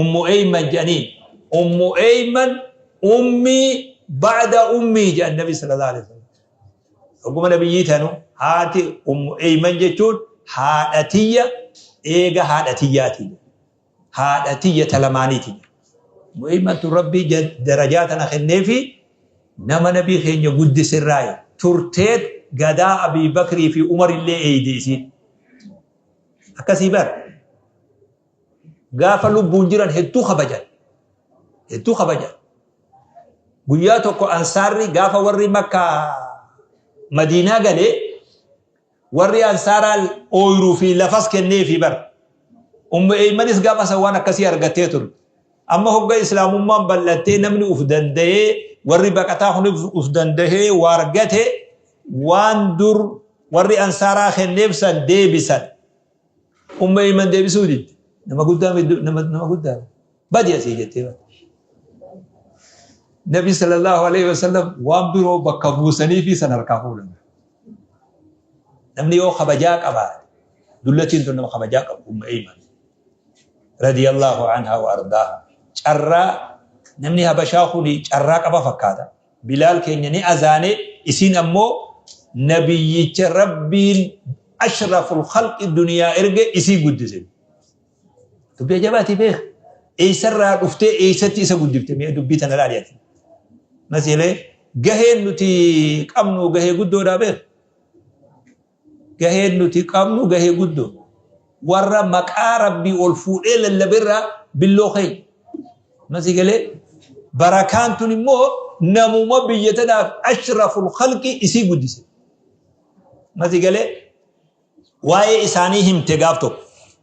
ummu eeyman jedhaniin ummu eeyman ummii ba'da ummii jedhan nabi sallallahu alaihi wasallam dhuguma nabiyyii tanu haati ummu eeyman jechuun haadha tiyya eega haadha tiyyaati haadha tiyya talamaaniiti ummu eeyman tun rabbii darajaa tana kenneefi nama nabii keenya guddisirraayi turteet gadaa abii bakrii fi umar illee eeyde isiin akkasii bara gaafa lubbuun jiran hedduu kabajan. Hedduu kabajan. Guyyaa tokko ansaarri gaafa warri makkaa madiinaa galee warri ansaaraa ooyiruu fi lafas kennee fi bar. Ummu eeymanis gaafa san waan akkasii argattee turte. Amma hogga islaamummaan bal'attee namni uf danda'ee warri baqataa kun uf danda'ee waa argate waan dur warri ansaaraa kenneef san deebisan. Umma Ayman deebisuu didde. Nama guddaa middu- nama nama guddaa. Badi asii jettee bade. Nabi sallallahu alaihi wasallam waan biroo bakka buusanii fi san harkaa fuudhan. Namni yoo kabajaa qabaate dullatiin tun nama kabajaa qabu Umma Ayman. Radiyallahu anha wa ardaa. Carraa namni habashaa kuni carraa qaba fakkaata. Bilaal keenya ni azaane, isin ammoo Nabiyyicha Rabbiin ashraful khalqi duniyaa erge isii guddise. Dubbii ajabaati beeka. Eessarraa dhuftee eessatti isa guddifte mee dubbii tana ilaali ati. Masiilee gaheen nuti qabnu gahee guddoodhaa beeka. Gaheen nuti qabnu gahee guddo. Warra maqaa Rabbii ol fuudhee lallabe irraa billoo keenya. Amma sii galee? Barakaan tun immoo namuma biyya tanaaf ashraful khalqi isii guddise. Amma sii galee? Waa'ee isaanii himte gaaf tokko.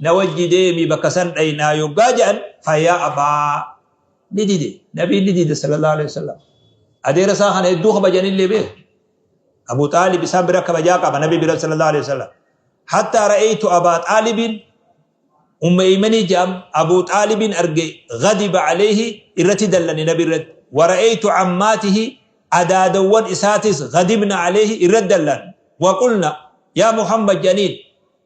na wajji deemi bakka san dhaynaa yoggaa je'an faya abaa ni dide nabiin ni dide sallallahu alaihi wasallam adeera isaa kana hedduu kabajanillee bee abu xaalib isaan bira kabajaa qaba nabi bira sallallahu alaihi wasallam hatta ra'aytu abaa xaalibin umma imanii je'am abu xaalibin arge ghadiba alayhi irratti dallane nabi irratti wara'aytu ammaatihi adaadawwan isaatis ghadibna alayhi irratti dallan waqulna yaa muhammad janiin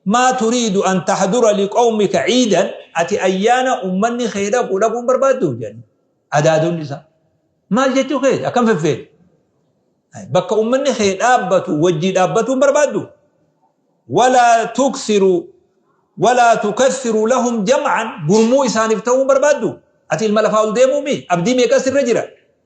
Maa turiidu an tahdura liqawmika ciidan ati ayyaana ummanni kee dhaqu dhaquu hin barbaadduu? jedhaniin. Adaadonni isaa maal jechuu keeti akkam feffeete? Bakka ummanni kee dhaabbatu wajjii dhaabbatuu hin barbaadduu? Walaa tuksiru walaa tukassiru lahum jam'an gurmuu isaaniif ta'uu hin barbaadduu? Ati ilma lafaa ol deemuu mii? Abdii meeqa sirra jira?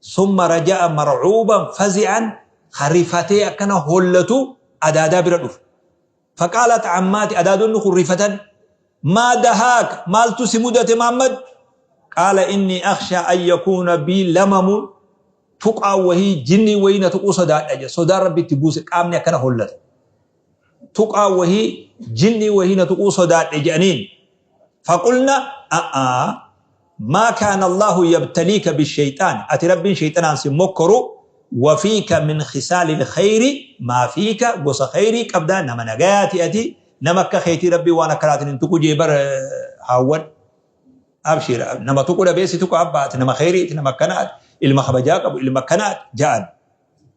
Summa raja'a mar'uuban fazi'an ka rifatee akkana hollatu adaadaa bira dhufe. Faqaalat ammaati adaadonni kun rifatan maa dahaak maaltu si mudate Maammad? Qaala inni akshaa an yakuuna bii lamamun tuqaan wahii jinniin wahii na tuquu sodaadha jedhe. Sodaan Rabbi itti buuse qaamni akkana hollata. tuqaa wahii jinnii wahii na tuquu sodaadhe jedhaniin faqulna a'aa maa kaana allaahu yabtaliika bisheyxaan ati rabbiin sheyxanaan sin mokkoru wafiika min khisaali lkheyri maa fiika gosa kheyrii qabdaa nama nagayaati ati nama akka keetii rabbii waan akkanaatiin hin tuqu jee bar haawwan abshiir nama tuqu dhabee si tuqa abba ati nama kheyriiti nama akkanaati ilma kabajaa qabu ilma akkanaati ja'an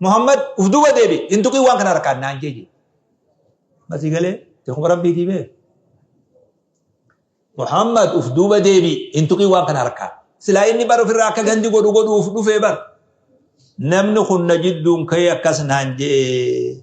Muhammad uf duuba deebi hin tuqin waan kana harkaan naan jee jee. Masii galee jeekuma rabbii diibee. Muhammad uf duuba deebi hin tuqin waan kana harkaan. Silaa inni bar ofirraa akka gandi godhu godhuuf dhufee bar. Namni kun na jidduun ka'ee akkas naan jee.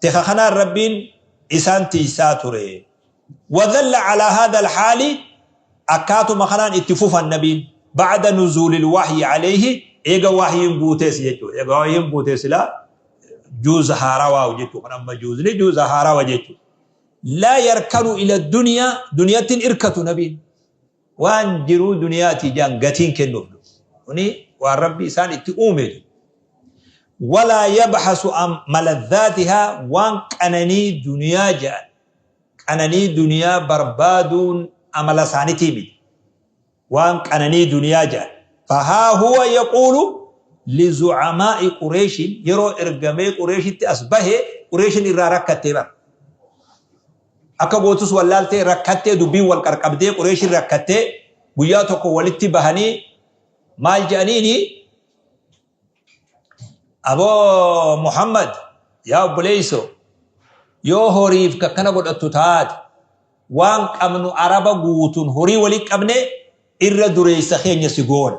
Tika kanaan Rabbiin isaan tiysaa ture. Wadhalla calaa haadhal haali akkaatuma kanaan itti fufan Nabiin bacda nuzuulil wahyi caleyhi eega wahyiin buutees jechuudha. Eega wahyiin buutee sila juuza haarawaa jechuu kan amma juuzni juuza haarawa jechuu. Laa yarkanu ila duniyaa duniyattin irkatu Nabiin. Waan jiruu duniyaati ijaan gatiin kennuuf du, uni waan Rabbi isaan itti uumeetu. Walaa yabhasu an maladhaatihaa waan qananii duniyaa ja'an qananii duniyaa barbaaduun amala isaanitii miti. Waan qananii duniyaa ja'an. Fahaa huwa yaquulu lizu'amaa'i Qureeshin yeroo ergamee Qureeshitti as bahe Qureeshin irraa rakkattee bar. Akka gootus wallaaltee rakkattee dubbiin wal qarqabdee Qureeshiin rakkattee guyyaa tokko walitti bahanii maal jedhaniini aboo Muhammad yaa obboleeyso yoo horiif kakkana godhattu taate waan qabnu araba guutun horii wali qabne irra dureeysa keenya si goona.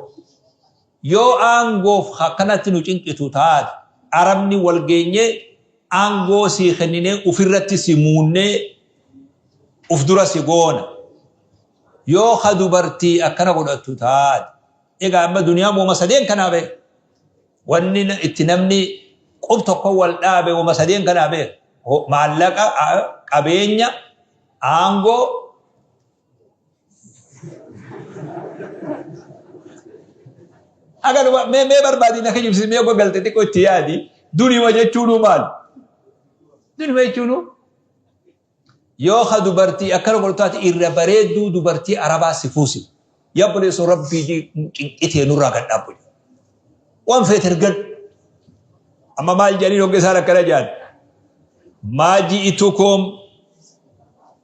Yoo aangoof akkanatti nu cinqitu taate, Arabni wal geenyee aangoo sii kenninee ufirratti si muunnee uf dura si goona. Yoo ka dubartii akkana godhattu taate, egaa amma duniyaan woma sadeen kanaa bee. Wanni itti namni qub tokko wal dhaabe woma sadeen kanaa bee. Maallaqa, qabeenya, aangoo, Akka dhumaa mee mee barbaadii na kijibsiis mee ogga galte xiqqoo itti yaadi dunima jechuunuu maal? Dunima jechuunuu yoo ka dubartii akkana godhu taate irra bareedduu dubartii arabaa si fuusi. Yaa buleessu rabbii cinqitee nurraa gad dhaabbu. Waan feete ergan. Amma maal jedhanii hogga isaan akkana jedhan? Maaji itukoom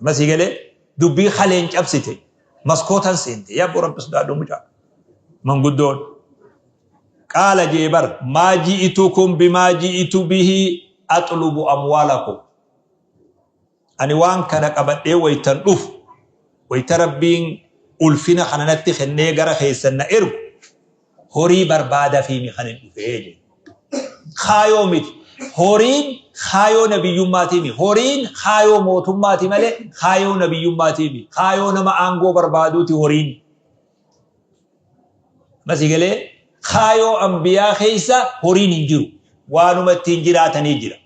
Amma sii galee dubbii kaleen cabsite maskootan seente yaa abboo rabbi sodaadhu mucaa manguddoon qaala jee bar maa ji'itukum bimaa ji'itu bihi axlubu amwaalakum ani waan kana qabadhee waytan dhufu wayta rabbiin ulfina kananatti kennee gara keessan na ergu Horii barbaadafiimi kanin dhufe jedhe. Kaayoo miti. Horiin kaayoo nabiyyummaatiimi. Horiin kaayoo mootummaati malee kaayoo nabiyyummaatiimi. Kaayoo nama aangoo barbaaduuti horiin. Masii galee kaayoo ambiyaa keessa horiin hin jiru. Waanuma ittiin jiraatanii jira.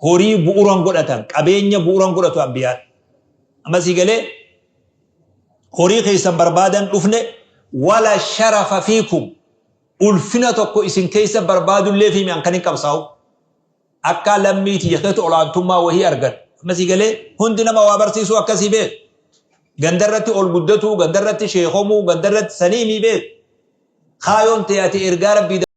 Horii bu'uuran godhatan, qabeenya bu'uuran godhatu ambiyaan. Masii galee horii keessan barbaadan dhufne wala sharafa fiikum ulfina tokko isin keessa barbaadullee fi mi'an kan hin qabsaa'u akka lammii tiyya keessatti olaantummaa wahii argan ammasii galee hundi nama waa barsiisuu akkasii beeku gandarratti ol guddatuu gandarratti sheekomuu gandarratti sanii mii beeku kaayoon ta'e ati ergaa rabbii